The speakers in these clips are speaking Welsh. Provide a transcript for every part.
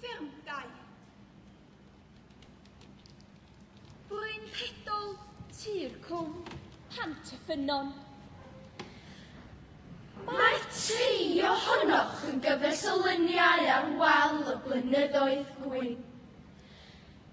Fferm Dai. Bryn Pedol, Tir Cwm, Pant y Ffynnon. Mae tri ohonoch yn gyfres o luniau ar wal y blynyddoedd gwyn.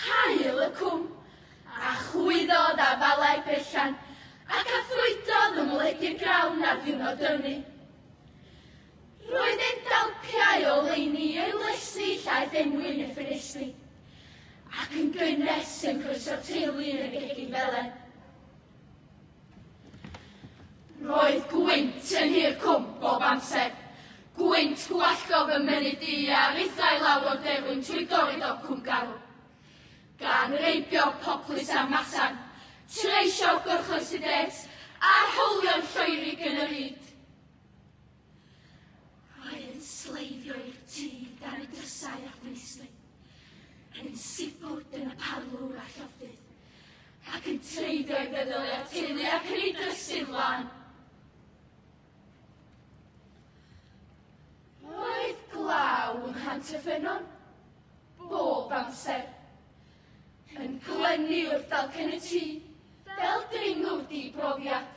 Haul y Cwm, a chwyddodd afalau berllan, ac a ffrwydodd ym mledydd Grawn ar ddiwrnod ynni. Roedd e'n dalpiau o leini i oelesi llaeth enwyn ei ffenestri, ac yn gynnes yn croeso teulu yn y gegin felen. Roedd gwynt yn hir cwmp bob amser. Gwynt gwallgo fy mynydd di a rithau lawr o'r derwyn trwy dorri do cwm garw. Gan reibio poplys a masan, treisio'r gorchoes y des a'r howlion lloerig yn yr ŷd. Rhaid yn sleifio i'r tŷ dan y drysau a phwyslu, yn sibwt yn y parlwr a lloffydd, ac yn treiddio i feddwl i'r teulu ac yn ei drysu flan. Roedd glaw yng Nghant y Ffynnon bob amser, yn glynu wrth dalcen y tŷ fel dringwr di-brofiad.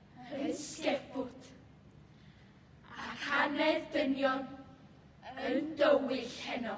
yn sgepwt, ac anedd dynion yn dywyll heno.